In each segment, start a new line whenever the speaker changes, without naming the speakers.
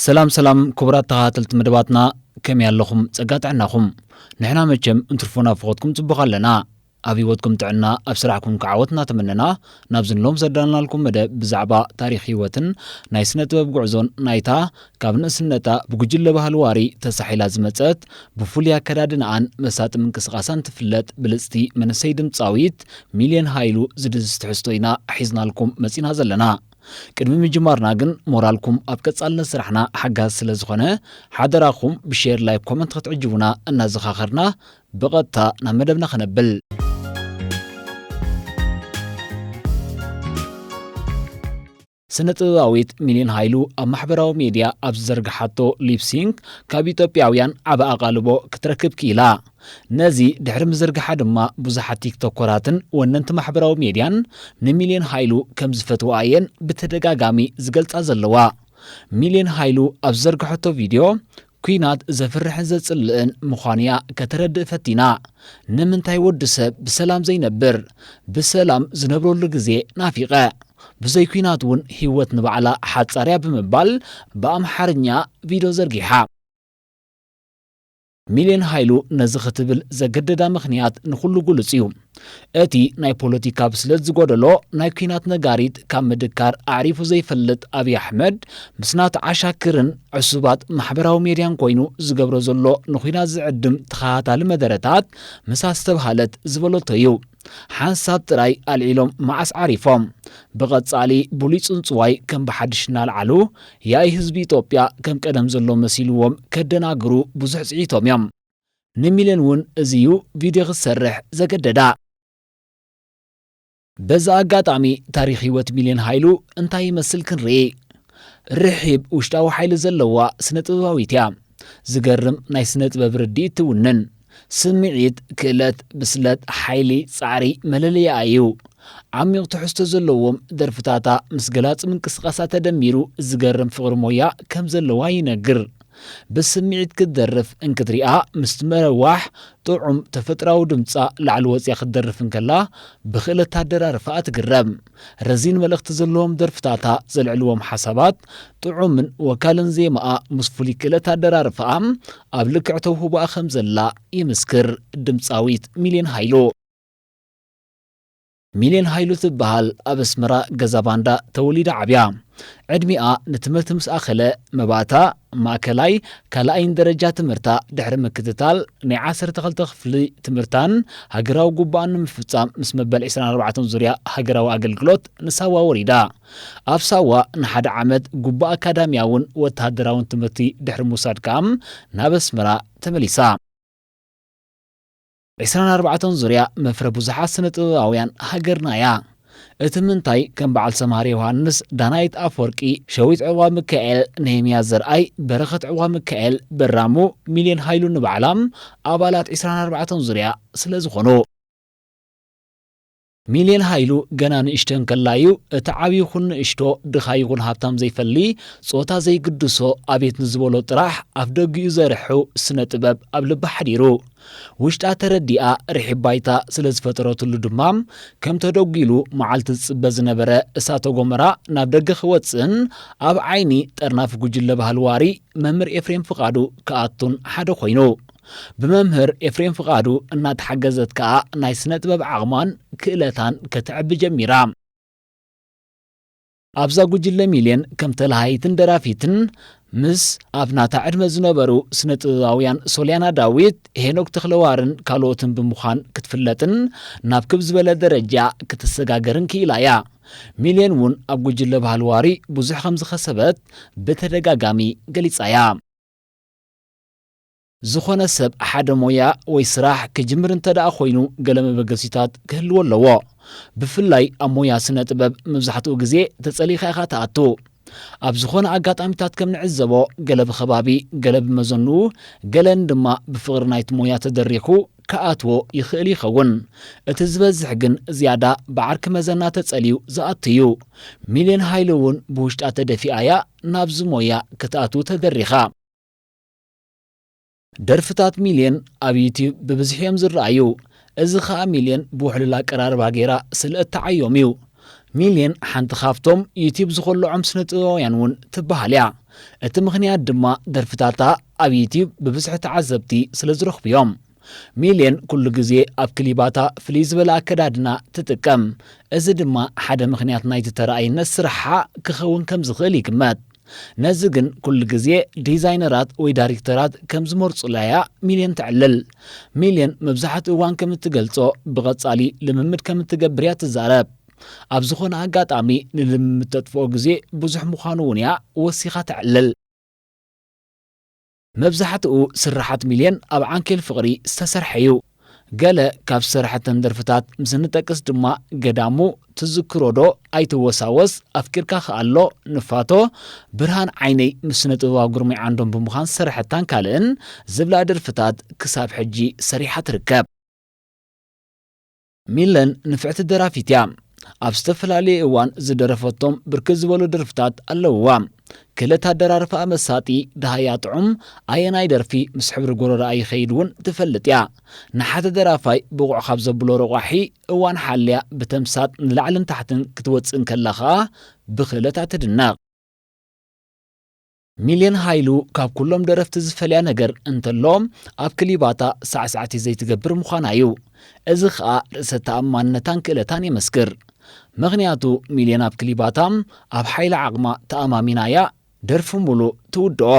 ሰላም ሰላም ክቡራት ተኸታተልቲ መደባትና ከመይ ኣለኹም ጸጋ ጥዕናኹም ንሕና መቸም እንትርፎ ናፍቖትኩም ጽቡቕ ኣለና ኣብ ህይወትኩም ጥዕና ኣብ ስራሕኩም ክዓወት እናተመነና ናብዚ ንሎም ዘዳልናልኩም መደብ ብዛዕባ ታሪክ ህይወትን ናይ ስነ ጥበብ ጉዕዞን ናይታ ካብ ንእስነታ ብጉጅለ ባህሊ ዋሪ ተሳሒላ ዝመጸት፣ ብፍሉይ ኣከዳድናኣን መሳጢ ምንቅስቓሳን ትፍለጥ ብልጽቲ መንእሰይ ድምጻዊት ሚልዮን ሃይሉ ዝድህስስ ትሕዝቶ ኢና ሒዝናልኩም መጺና ዘለና። ቅድሚ ምጅማርና ግን ሞራልኩም ኣብ ቀጻልነት ስራሕና ሓጋዚ ስለ ዝኾነ ሓደራኹም ብሼር ላይክ ኮመንት ክትዕጅቡና እናዘኻኸርና ብቐጥታ ናብ መደብና ክነብል። ስነ-ጥበባዊት ሚሊዮን ሃይሉ ኣብ ማሕበራዊ ሜድያ ኣብ ዝዘርግሓቶ ሊፕሲንክ ካብ ኢትዮጵያውያን ዓቢ ኣቓልቦ ክትረክብ ክኢላ። ነዚ ድሕሪ ምዝርግሓ ድማ ብዙሓት ቲክቶከራትን ወነንቲ ማሕበራዊ ሜድያን ንሚሊዮን ሃይሉ ከም ዝፈትውኣ እየን ብተደጋጋሚ ዝገልጻ ዘለዋ። ሚሊዮን ሃይሉ ኣብ ዝዘርግሐቶ ቪድዮ ኲናት ዘፍርሕን ዘጽልእን ምዃኑ'ያ ከተረድእ ፈቲና። ንምንታይ ወዲ ሰብ ብሰላም ዘይነብር? ብሰላም ዝነብረሉ ግዜ ናፊቐ። ብዘይ ኲናት እውን ህይወት ንባዕላ ሓጻር'ያ ብምባል ብኣምሓርኛ ቪድዮ ዘርጊሓ። ሚልዮን ሃይሉ ነዚ ክትብል ዘገደዳ ምኽንያት ንኹሉ ግሉጽ'ዩ። እቲ ናይ ፖለቲካ ብስለት ዝጎደሎ ናይ ኲናት ነጋሪት ካብ ምድካር ኣዕሪፉ ዘይፈልጥ ኣብይ ኣሕመድ ምስ ናቱ ዓሻክርን ዕሱባት ማሕበራዊ ሜድያን ኮይኑ ዝገብሮ ዘሎ ንኲናት ዝዕድም ተኸታታሊ መደረታት ምስ ኣስተብሃለት ዝበለቶ እዩ። ሓንሳብ ጥራይ ኣልዒሎም መዓስ ዓሪፎም። ብቐጻሊ ብሉይ ጽንጽዋይ ከም ብሓድሽ እናልዓሉ ያኢ ህዝቢ ኢትዮጵያ ከም ቀደም ዘሎ መሲልዎም ከደናግሩ ብዙሕ ጽዒቶም እዮም። ንሚለን እውን እዚ እዩ ቪድዮ ክትሰርሕ ዘገደዳ። በዚ ኣጋጣሚ ታሪኽ ህይወት ሚልዮን ሃይሉ እንታይ ይመስል ክንርኢ። ርሒብ ውሽጣዊ ሓይሊ ዘለዋ ስነ-ጥበባዊት እያ። ዝገርም ናይ ስነ-ጥበብ ርድኢት ትውንን። ስምዒት፣ ክእለት፣ ብስለት፣ ሓይሊ፣ ጻዕሪ መለለይኣ እዩ። ዓሚቕ ትሕዝቶ ዘለዎም ደርፍታታ ምስ ገላጺ ምንቅስቓሳ ተደሚሩ ዝገርም ፍቕሪ ሞያ ከም ዘለዋ ይነግር። ብስምዒት ክትደርፍ እንክትሪኣ ምስቲ መረዋሕ ጥዑም ተፈጥራዊ ድምጻ ላዕሊ ወጺኣ ክትደርፍ እንከላ ብክእለት ኣደራርፋኣ ትግረም። ረዚን መልእኽቲ ዘለዎም ደርፍታታ ዘልዕልዎም ሓሳባት ጥዑምን ወካልን ዜማኣ ምስ ፍሉይ ክእለት ኣደራርፋኣ ኣብ ልክዕ ተውህቦኣ ከምዘላ ይምስክር ድምጻዊት ሚልዮን ሃይሉ። ሚልዮን ሃይሉ ትበሃል ኣብ ኣስመራ ገዛ ባንዳ ተወሊዳ ዓብያ። ዕድሚኣ ንትምህርቲ ምስ ኣኸለ መባእታ ማእከላይ ካልኣይን ደረጃ ትምህርታ ድሕሪ ምክትታል ናይ ዓሰርተ ክልተ ክፍሊ ትምህርታን ሃገራዊ ጉባኣን ንምፍጻም ምስ መበል ዕስራን ኣርባዕተን ዙርያ ሃገራዊ ኣገልግሎት ንሳዋ ወሪዳ። ኣብ ሳዋ ንሓደ ዓመት ጉባኣ ኣካዳሚያውን ወተሃደራውን ትምህርቲ ድሕሪ ምውሳድ ከኣ ናብ ኣስመራ ተመሊሳ። ዕስራን ኣርባዕተን ዙርያ መፍረ ብዙሓት ስነ ጥበባውያን ሃገርና እያ። እቲ ምንታይ ከም በዓል ሰምሃር ዮውሃንስ፣ ዳናይት ኣፍወርቂ፣ ሸዊት ዕቕባሚካኤል፣ ነህምያ ዘርኣይ፣ በረኸት ዕቕባሚካኤል፣ በራሙ፣ ሚልዮን ሃይሉ ንባዕላ ኣባላት ዕስራን ኣርባዕተን ዙርያ ስለዝኾኑ። ሚልየን ሃይሉ ገና ንእሽቶ እንከላ እዩ እቲ ዓቢ ይኹን ንእሽቶ፣ ድኻ ይኹን ሃብታም ዘይፈሊ፣ ጾታ ዘይግድሶ፣ ኣቤት ንዝበሎ ጥራሕ ኣፍደጊኡ ዘርሑ ስነ ጥበብ ኣብ ልባ ሓዲሩ። ውሽጣ ተረዲኣ ርሒብ ባይታ ስለ ዝፈጠረትሉ ድማ ከም ተደጒሉ መዓልቲ ዝጽበ ዝነበረ እሳተ ጎመራ ናብ ደገ ክወጽእን ኣብ ዓይኒ ጠርናፊ ጉጅለ ባህሊ ዋሪ መምህር ኤፍሬም ፍቓዱ ክኣቱን ሓደ ኮይኑ። ብመምህር ኤፍሬም ፍቓዱ እናተሓገዘት ከኣ ናይ ስነ ጥበብ ዓቕማን ክእለታን ከተዕቢ ጀሚራ። ኣብዛ ጉጅለ ሚልዮን ከም ተላሃይትን ደራፊትን ምስ ኣብ ናታ ዕድመ ዝነበሩ ስነ ጥበባውያን ሶልያና ዳዊት፣ ሄኖክ ተኽለዋርን ካልኦትን ብምዃን ክትፍለጥን ናብ ክብ ዝበለ ደረጃ ክትሰጋገርን ክኢላ እያ። ሚልዮን እውን ኣብ ጉጅለ ባህሊ ዋሪ ብዙሕ ከም ዝኸሰበት ብተደጋጋሚ ገሊጻ እያ። ዝኾነ ሰብ ሓደ ሞያ ወይ ስራሕ ክጅምር እንተድኣ ኮይኑ ገለ መበገሲታት ክህልዎ ኣለዎ። ብፍላይ ኣብ ሞያ ስነ ጥበብ መብዛሕትኡ ግዜ ተጸሊእኻ ኢኻ ትኣቱ። ኣብ ዝኾነ ኣጋጣሚታት ከም ንዕዘቦ ገለ ብኸባቢ ገለ ብመዘንኡ ገለ ንድማ ብፍቕሪ ናይቲ ሞያ ተደሪኹ ክኣትዎ ይኽእል ይኸውን። እቲ ዝበዝሕ ግን ዝያዳ ብዓርኪ መዘና ተጸሊዩ ዝኣቱ እዩ። ሚልዮን ሃይለ እውን ብውሽጣ ተደፊኣ እያ ናብዚ ሞያ ክትኣትው ተደሪኻ። ደርፍታት ሚልየን ኣብ ዩትዩብ ብብዝሒ እዮም ዝረኣዩ። እዚ ከኣ ሚልየን ብውሕሉል ኣቀራርባ ገይራ ስለ እትዓዮም እዩ። ሚልየን ሓንቲ ካብቶም ዩትዩብ ዝኾልዖም ስነ-ጥበባውያን እውን ትበሃል እያ። እቲ ምኽንያት ድማ ደርፍታታ ኣብ ዩትዩብ ብብዝሒ ተዓዘብቲ ስለ ዝረኽቡ እዮም። ሚልየን ኩሉ ግዜ ኣብ ክሊባታ ፍልይ ዝበለ ኣከዳድና ትጥቀም፣ እዚ ድማ ሓደ ምኽንያት ናይቲ ተራኣይነት ስራሓ ክኸውን ከም ዝኽእል ይግመት። ነዚ ግን ኩሉ ግዜ ዲዛይነራት ወይ ዳሪክተራት ከም ዝመርጹላ'ያ ሚልየን ተዕልል። ሚልየን መብዛሕትኡ እዋን ከም እትገልጾ፣ ብቐጻሊ ልምምድ ከም እትገብር'ያ ትዛረብ። ኣብ ዝኾነ ኣጋጣሚ ንልምምድ ተጥፍኦ ግዜ ብዙሕ ምዃኑ'ውን'ያ ወሲኻ ተዕልል። መብዛሕትኡ ስርሓት ሚልዮን ኣብ ዓንኬል ፍቕሪ ዝተሰርሐ ዩ። ገለ ካብ ዝሰርሐተን ደርፍታት ምስ እንጠቅስ ድማ ገዳሙ፣ ትዝክሮ ዶ፣ ኣይትወሳወስ፣ ኣፍቂርካ ክኣ ኣሎ፣ ንፋቶ፣ ብርሃን ዓይነይ ምስ ስነ-ጥበባዊ ግርማይ ዓንዶም ብምዃን ዝሰርሐታን ካልእን ዝብላ ደርፍታት ክሳብ ሕጂ ሰሪሓ ትርከብ። ሚለን ንፍዕቲ ደራፊት እያ። ኣብ ዝተፈላለየ እዋን ዝደረፈቶም ብርክት ዝበሉ ደርፍታት ኣለውዋ። ክእለት ኣደራርፋኣ መሳጢ፣ ደሃያ ጥዑም፣ ኣየናይ ደርፊ ምስ ሕብሪ ጎረርኣ ይኸይድ እውን ትፈልጥ እያ። ንሓደ ደራፋይ ብቑዕ ካብ ዘብሎ ረቋሒ፣ እዋን ሓልያ ብተምሳጥ ንላዕልን ታሕትን ክትወፅእ እንከላ ከኣ ብክእለታ ትድነቕ። ሚልዮን ሃይሉ ካብ ኩሎም ደረፍቲ ዝፈልያ ነገር እንተሎ ኣብ ክሊባታ ሳዕሳዕቲ ዘይትገብር ምዃና እዩ። እዚ ከኣ ርእሰ ተኣማንነታን ክእለታን የመስክር። ምኽንያቱ ሚልዮን ኣብ ክሊባታ ኣብ ሓይሊ ዓቕማ ተኣማሚና እያ ደርፊ ሙሉ ትውድኦ።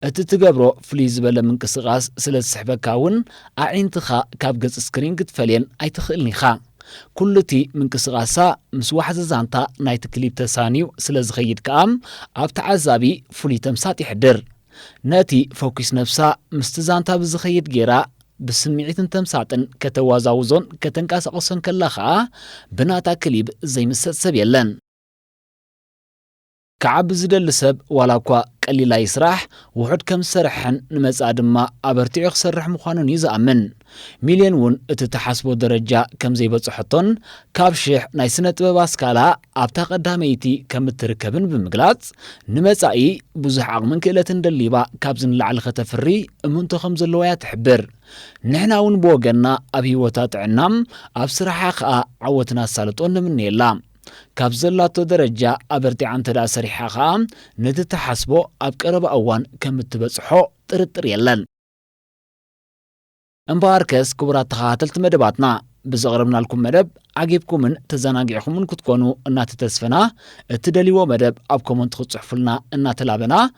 እቲ ትገብሮ ፍልይ ዝበለ ምንቅስቓስ ስለ ዝስሕበካ እውን ኣዒንትኻ ካብ ገጽ ስክሪን ክትፈልየን ኣይትኽእልን ኢኻ። ኩሉ እቲ ምንቅስቓሳ ምስ ዋሕዚ ዛንታ ናይቲ ክሊፕ ተሳንዩ ስለ ዝኸይድ ከኣ ኣብ ተዓዛቢ ፍሉይ ተምሳጥ የሕድር። ነቲ ፈኲስ ነብሳ ምስቲ ዛንታ ብዝኸይድ ገይራ ብስምዒትን ተምሳጥን ከተዋዛውዞን ከተንቀሳቕሶን ከላ ከኣ ብናታ ክሊብ ዘይምሰጥ ሰብ የለን። ክዓቢ ዝደሊ ሰብ ዋላ እኳ ቀሊል ኣይስራሕ፣ ውሑድ ከም ዝሰርሐን ንመጻኢ ድማ ኣበርቲዑ ክሰርሕ ምዃኑን እዩ ዝኣምን። ሚልዮን እውን እቲ እትሓስቦ ደረጃ ከም ዘይበጽሖቶን ካብ ሽሕ ናይ ስነ-ጥበብ ኣስካላ ኣብታ ቀዳመይቲ ከም እትርከብን ብምግላጽ፣ ንመጻኢ ብዙሕ ዓቕምን ክእለትን ደሊባ ካብዚ ንላዕሊ ከተፍሪ እምንቶ ከም ዘለዋ እያ ትሕብር። ንሕና እውን ብወገንና ኣብ ህይወታ ጥዕና፣ ኣብ ስራሓ ከኣ ዓወትን ኣሳልጦን ንምነየላ። ካብ ዘላቶ ደረጃ ኣበርቲዓ እንተድኣ ሰሪሓ ከኣ ነቲ ትሓስቦ ኣብ ቀረባ እዋን ከም እትበጽሖ ጥርጥር የለን። እምበኣርከስ ክቡራት ተኸታተልቲ መደባትና ብዘቕረብናልኩም መደብ ዓጊብኩምን ተዘናጊዕኹምን ክትኮኑ እናተተስፈና እትደልይዎ መደብ ኣብ ኮመንት ክትጽሕፉልና እናተላበና